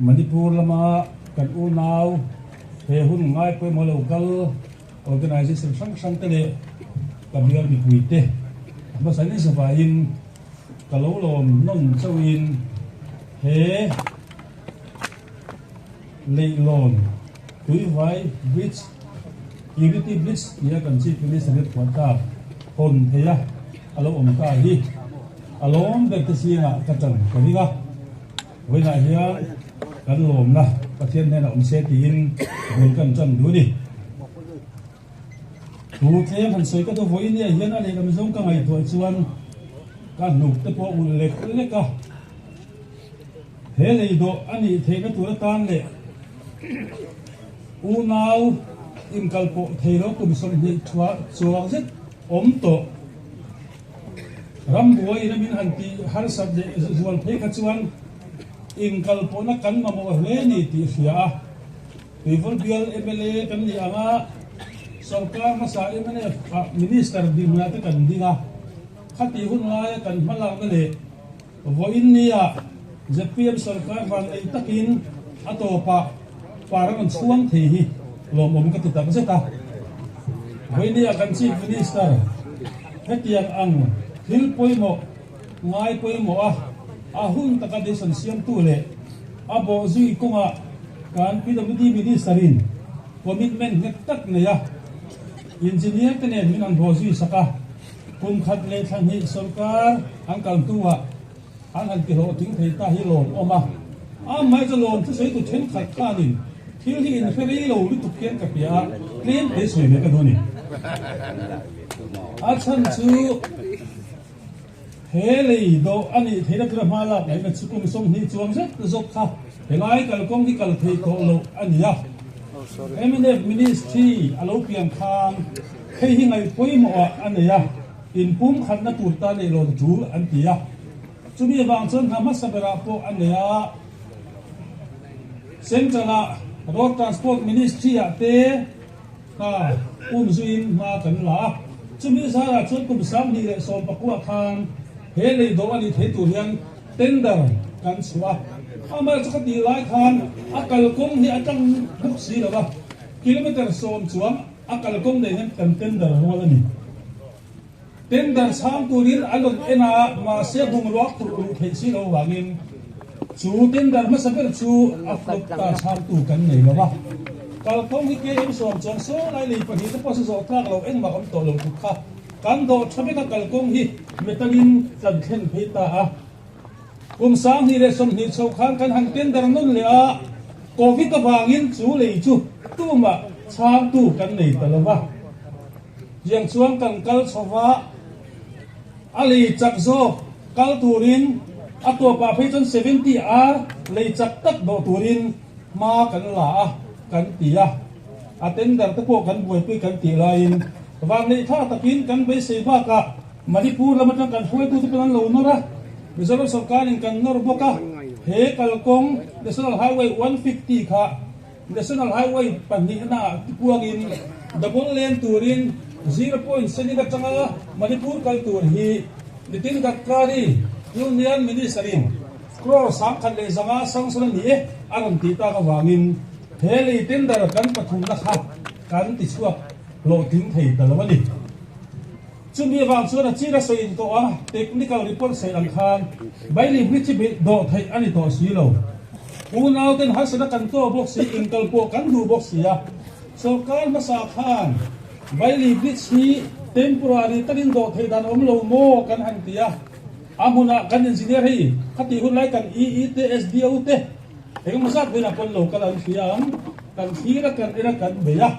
Manipur lama kan unau he hun ngai pawimawh lo kal organisation hrang hrang te leh ka bial mipui te hmasa ni zova in ka lo lawm nawn chauh in he leihlawn tuivai bridge unity bridge tia kan chi tu ni sanghet puan ta hawn phei a a lo awm ta hi a lawm ber te sina ka tan ka ring a. Vawilah hian kan lawmna Pathian hnenah awm se tiin bul kan tan duh a ni. Thu tlem han sawi ka duh vawiin ni ah hian a lehlam zawng ka ngaihtuah chuan ka hnuk te pawh ulh lek lek a. He lei dawh a nih theih na tura tan leh unau inkal pawh thei lo kum sawmhnih chhuah chuak zet awm tawh. Ram buai ram in han ti harsat leh zual phei kha chuan inkalpawhna kan mamawh hle ni tih hria a. Tuivur bial mla kan nih ang a, sawrkar hmasa mnf ah minister dinglate kan ding a, khati hun ngaia kan hmalakna leh. Vawiin ni ah zpm sarkar van ei tak in a tawp ah par a rawn chhuang thei hi lawmawm ka ti takzet a. Vawiini ah kan Chief Minister hetiang ang thil pawimawh ngai pawimawh a a hun taka decision siamtu leh a bawh zui kawng ah kan pwd minister in commitment nghet tak neia engineer te nen min an haw zui sak a. Kum khat leh thla hnih sawrkar an kal hnuah an han ti hlawh ting thei ta hi lawm awm a. Am mai chu lawm thuseitu thenkhat khanin thil hi infe rei lo lutuk hian ka piah a, tlem te sawi leh ka duh a ni. A chhan chu he lei dawh a nih theihna tura hma lak laihna chu kum sawmhnih chuang zet zawk kha helai kal kawng hi kal thei tawh loh a ni a. MNF Ministry a lo piankham. Hei hi ngaih pawimawh ah a nei a, in pumkhatna tur ta neih lawm chu an ti a, chumi avang chuan hna hmasa ber ah pawh a nei a. Central ah Road Transport Ministry ah te kha um zui in hma kan la a, chumi zar ah chuan kum sanghnih leh sawmpaku ah khan he lei doh a nih theih tur hian tender kan chhuah a. Amah chu ka tih lai khan a kalkawng hi a tang bawk si lo a, kilometre sawm chuang. A kalkawng nei hian kan tender rual a ni. Tender chhang turin a rawn en a, mahse bungrua phurh duh theih si lo vangin chu tender hmasa ber chu a flop ta chhang tu kan nei lo a. Kalkawng hi KM suam chuan sawi lai lei pahnih te pawh chu zawh tlak lo engmah awm tawh lo tuk kha kan dawh tha vek a kalkawng hi metal in tlan thlen phei ta a. Kum sanghnih leh sawmhnih chho khan kan han tender nawn leh a, Covid avangin chu lei chu tumah chhangtu kan nei ta lo va. Tiang chuan kan kal chho va, a lei chak zawk kal turin a tawpah phei chuan seventy ar lei chak tak dawh turin hma kan la a kan ti a. A tender te pawh kan buaipui kan tih laiin vang leithla takin kan beisei bak a. Manipur lam atang kan hruaitu te pawh an lo nawr a, Mizoram sawrkar in kan nawr bawk a, he kalkawng National Highway one hundred fifty kha National Highway pahnihna ah tipuang in double lane turin zero point senin a chang a, Manipur kal tur hi Nitin Gadkari, Union Minister in crore sangkhat leh zanga sanction a ni e a rawn tih tak avangin he lei tender kan pathumna kha kan tichhuak hlawhtling thei ta lo a ni. Chumi avang chuan a chira sawi in tawh a, technical report sawi ang khan Bailey Bridge hi beih dawh theih a ni tawh si lo. Unau ten harsatna kan tawh bawk si, inkal pawh kan duh bawk si a, sorkar hmasa khan Bailey Bridge hi temporary takin dawh theih dan awm lo maw kan han ti a, a hmunah kan engineer hei khati hun lai kan EE te, SDO te engemaw zat velah pawn lo kal an fiam, kan thira kan en a kan beih a.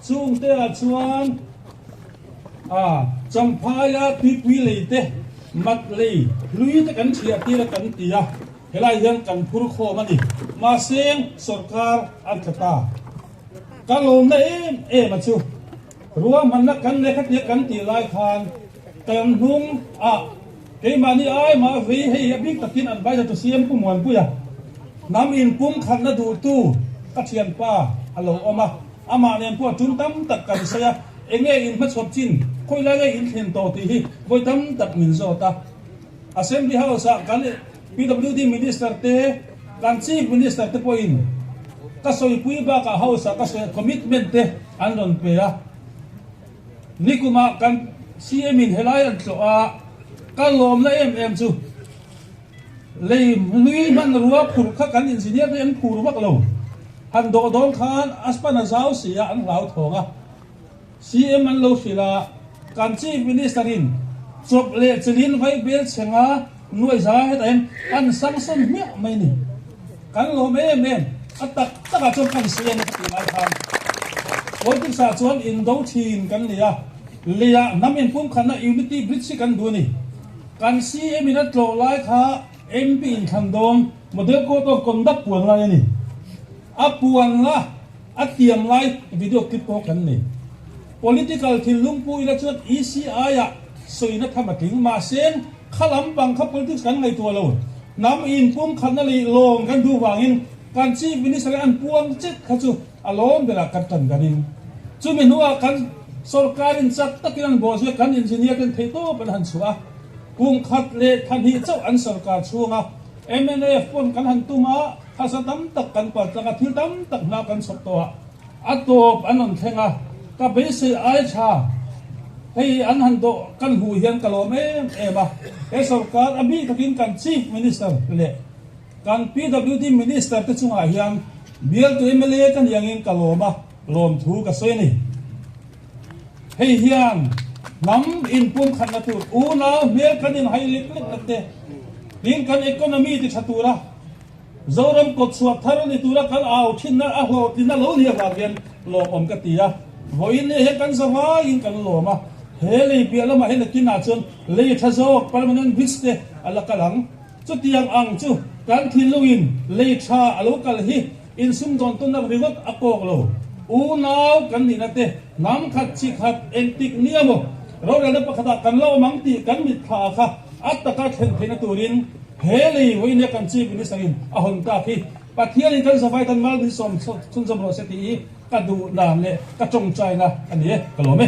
Chung te ah chuan a Champhai a tuipui lei te, mat lei, hlui te kan chhiah tir a kan ti a, helai hian kan phur khawm a ni. Mahse sorkar an tla ta. Ka lawmna em em a chu ruahmanna kan leh kha tir kan tih lai khan kan hnung ah Keimahni ai mah vei hei hi a bik takin an vai zatu si em Pu Muanpuia hnam in pumkhatna duhtu ka thianpa a lo awm a, amah nen pawh tum tam tak kan sawi a, eng nge in hmachhuap chin khawi lai nge in thlen tawh tih hi vawi tam tak min zawt a. Assembly House ah kan PWD Minister te, kan Chief Minister te pawh in ka sawipui bakah House ah ka sawi a, commitment te an rawn pe a. Nikumah kan CM in helai an tlawh a, ka lawm la em em chu lei nui hman rua phurh kha kan engineer te an phur vak lo, han dawh dawn khan a span a zau si a an hlau thawng a, CM an lo hrilh a, kan Chief Minister in chawp leh chilin vai belchhenga, Nuaiza heta hian an sangsawn hmiah mai ni. Kan lawm em em a tak tak ah chuan kan si em e ka tih lai khan politics ah chuan in do thin kan ni a, lei ah hnam in pumkhat na unity bridge hi kan duh ni. Kan si em in a tlawh lai kha MP in thlan dawn model code of conduct puan lai a ni. A puan la. A tiam lai video clip pawh kan nei. Political thil lungpui ila chuan ECI-a sawina tham a tling. Mahse, kha lampang kha politics kan ngaihtuah lo. Hnam in pumkhatna leh lawm kan duh vangin kan Chief Minister leh an puang chet kha chu a lawm berah kan tan ka ring. Chumi hnuah kan sorkarin chak takin an bawl zui a, kan engineer ten theihtawp an han chhuah a, pumkhat leh thahnih chauh an sorkar chhunga MNAF paw'n kan han tum a. Thasa tam tak kan par tlak a, thil tam tak hna kan chhawp tawh a, a tawp an rawn thleng a, ka beisei ai tha, hei an han dawh kan hmuh hian ka lawm em em a, he sorkar a bih takin kan Chief Minister leh kan PWD Minister te chungah hian bialtu mla ka niangin ka lawm a, lawm thu ka sawi a ni. Hei hian hnam in pumkhatna tur unau hmel kan inhai lek lek tak te, tin kan economy ti tha tura, Zoram kawt chhuah thar a ni tura kal au thinna a hlawh tlin a lo leh vang hian lawmawm ka ti a. Vawiin lei he kan za vaiin kan lawm a. He lei piah lamah hian a kinah chuan lei tha zawk, permanent bricks, te a la kal ang. Chutiang ang chu kan thil lungin lei tha a lo kal hi. Insum dawn tunnak ringawt a kawk lo. Unau kan nih na te, hnam khat chi khat engtik ni emaw rorelna pakhat ah kan lo awm ang tih kan mitthla ah kha a taka thlen thei na tur in he lei vawi nia kan Chief Minister in a hawn tak hi Pathian in kan zavai tan mal min sawm chhun zawm rawh se ti i ka duhdan leh ka tawngtaina a ni e ka lawm e.